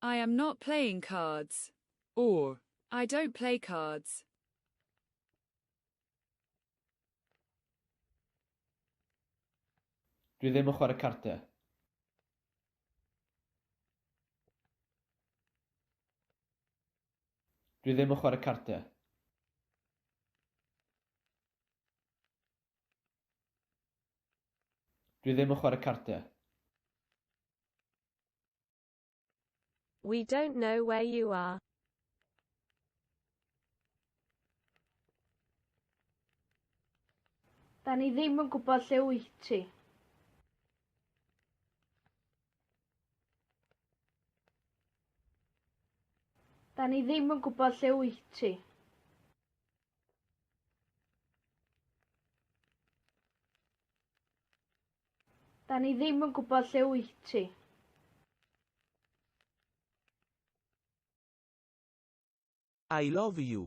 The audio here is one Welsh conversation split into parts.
I am not playing cards. Or, I don't play cards. Dwi ddim yn chwarae cardiau. Dwi ddim yn chwarae cardiau. Dwi ddim yn chwarae cardiau. We don't know where you are. Da ni ddim yn gwybod lle wyt ti. Da ni ddim yn gwybod lle wyt ti. Da ni ddim yn gwybod lle wyt ti. I love you.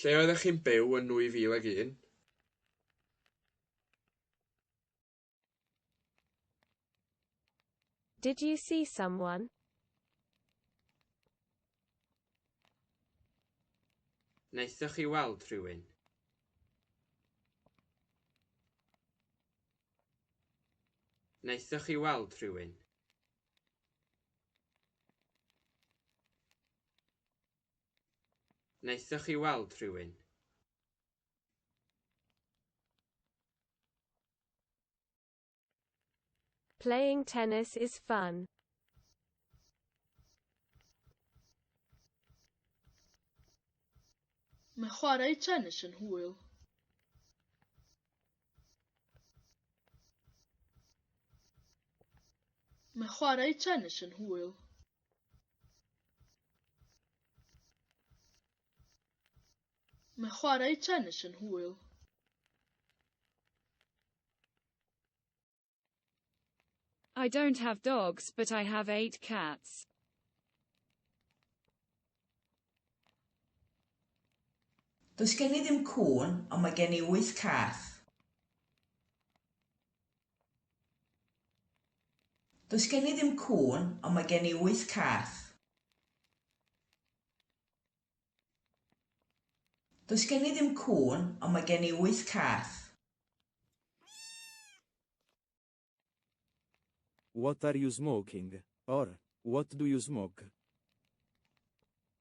Lle oeddech chi'n byw yn 2001? Did you see someone? Wnaethoch chi weld rhywun? Wnaethoch chi weld rhywun? Wnaethoch chi weld rhywun? Playing tennis is fun. Mae chwarae tennis yn hwyl. Mae chwarae tennis yn hwyl. Mae chwarae tennis yn hwyl. I don't have dogs, but I have eight cats. Does gen i ddim cŵn, ond mae gen i wyth cath. Does gen i ddim cŵn, ond mae gen i wyth cath. Does gen i ddim cŵn, ond mae gen i wyth cath. What are you smoking? or What do you smoke?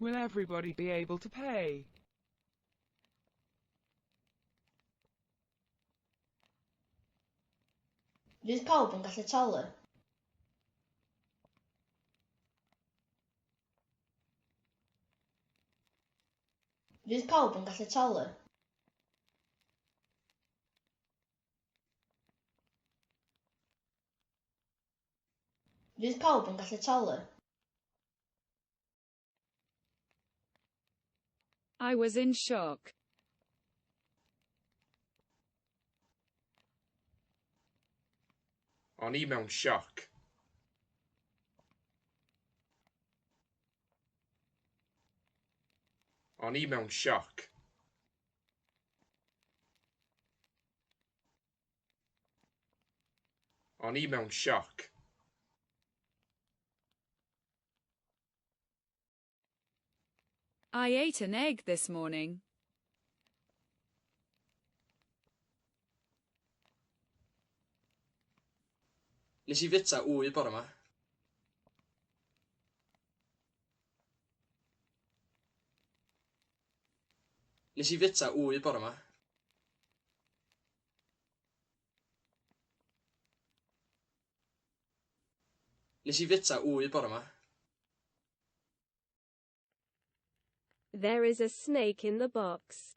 Will everybody be able to pay? Fydd pawb yn gallu talu? Fydd pawb yn gallu talu? Fydd pawb yn gallu talu? I was in shock. O'n i mewn sioc. O'n i mewn sioc. O'n i mewn sioc. I ate an egg this morning. Nes i fita wy bore ma. Nes i fita wy bore ma. Nes i fita wy bore ma. There is a snake in the box.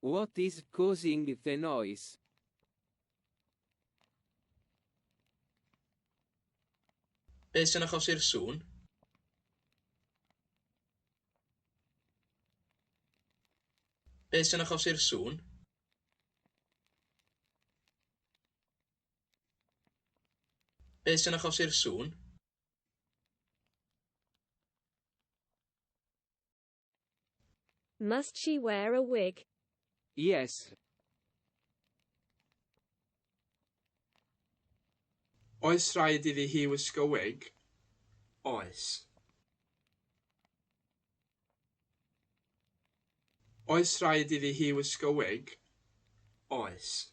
What is causing the noise? Beth sy'n achosi'r sŵn? Beth sy'n achosi'r sŵn? Beth sy'n achosi'r sŵn? Must she wear a wig? Yes. Oes rhaid iddi hi wisgo wig? Oes. Oes rhaid iddi hi wisgo wig? Oes.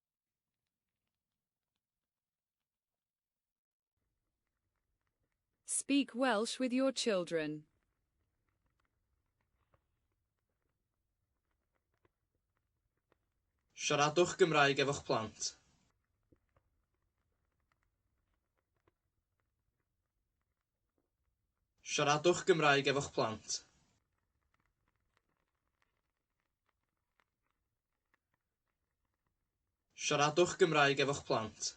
Speak Welsh with your children. Siaradwch Gymraeg efo'ch plant. Siaradwch Gymraeg efo'ch plant. Siaradwch Gymraeg efo'ch plant.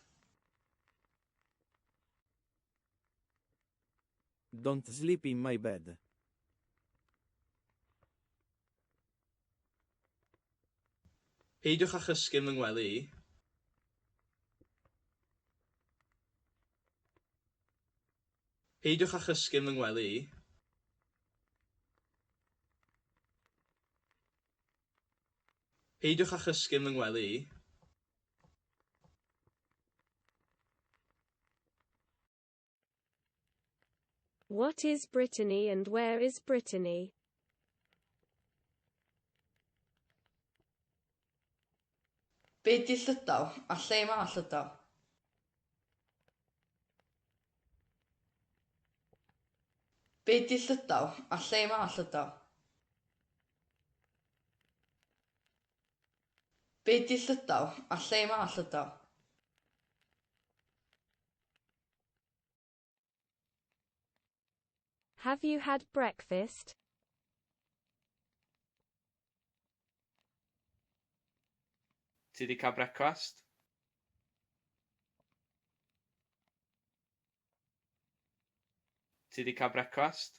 Don't sleep in my bed. Peidiwch â chysgu yn fy ngwely i. Peidiwch â chysgu yn fy ngwely i. Peidiwch â chysgu'n fy ngwely i. What is Brittany and where is Brittany? Be di Llydaw, a lle mae Llydaw? Be di Llydaw, a lle mae Llydaw? Be di Llydaw? A lle mae Llydaw? Have you had breakfast? Ti di cael brecwast? Ti di cael brecwast?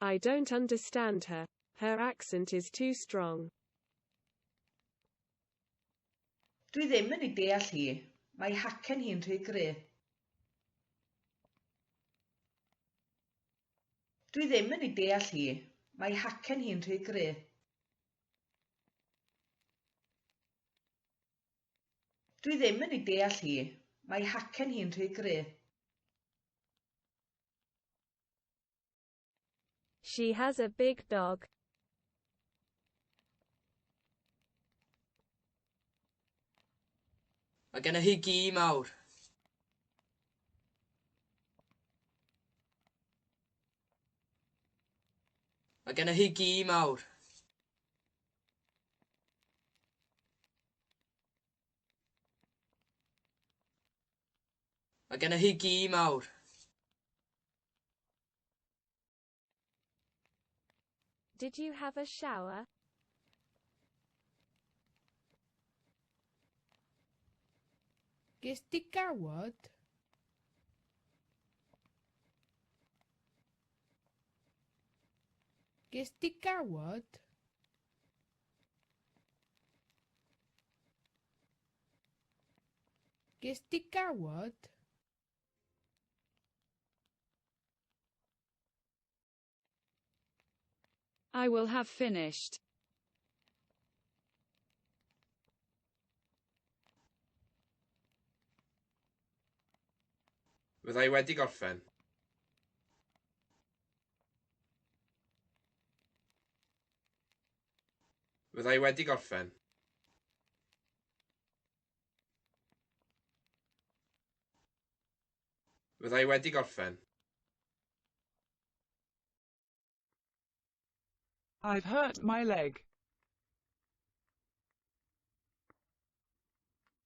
I don't understand her, her accent is too strong. Dwi ddim yn ei deall hi, mae hacen hi'n rhy gry'. Dwi ddim yn ei deall hi, mae hacen hi'n rhy gry'. Dwi ddim yn ei deall hi, mae hacen hi'n rhy gry'. She has a big dog. Mae gennych chi gi mawr. Mae gennych chi gi mawr. Mae gennych chi gi mawr. Did you have a shower? Ges di gawod? Ges di gawod? Ges di gawod? I will have finished. Fydda i wedi gorffen. Fydda i wedi gorffen. Fydda i wedi gorffen. I've hurt my leg.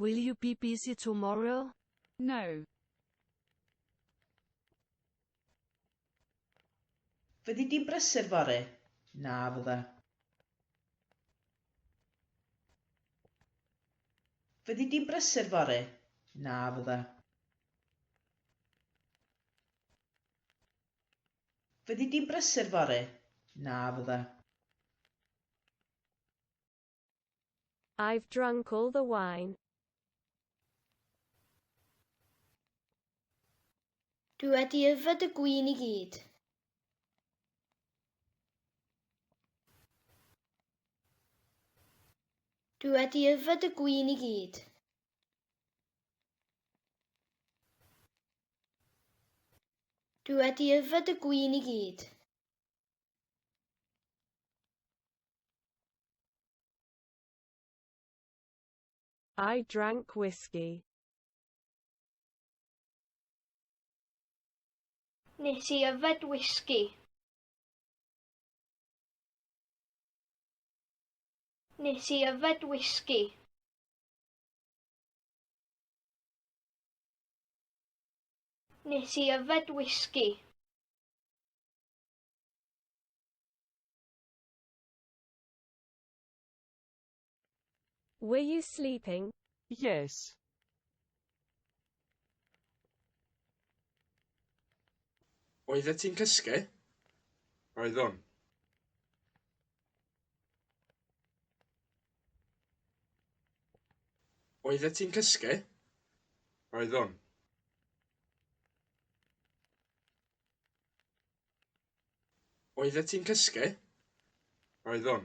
Will you be busy tomorrow? No. Fyddi di'n brysur fory? Na, fydda. Fyddi di'n brysur fory? Na, fydda. Fyddi di'n brysur fory? Na, fydda. I've drunk all the wine. Dwi wedi yfed y gwin i gyd. Dwi wedi yfed y gwin i gyd. Dwi wedi yfed y gwin i gyd. I drank whiskey. Nes i yfed whisky. Nes i yfed whisky. Nes i yfed whisky. Were you sleeping? Yes. Oeddet ti'n cysgu? Oeddwn. Oeddet ti'n cysgu? Oeddwn. Oeddet ti'n cysgu? Oeddwn.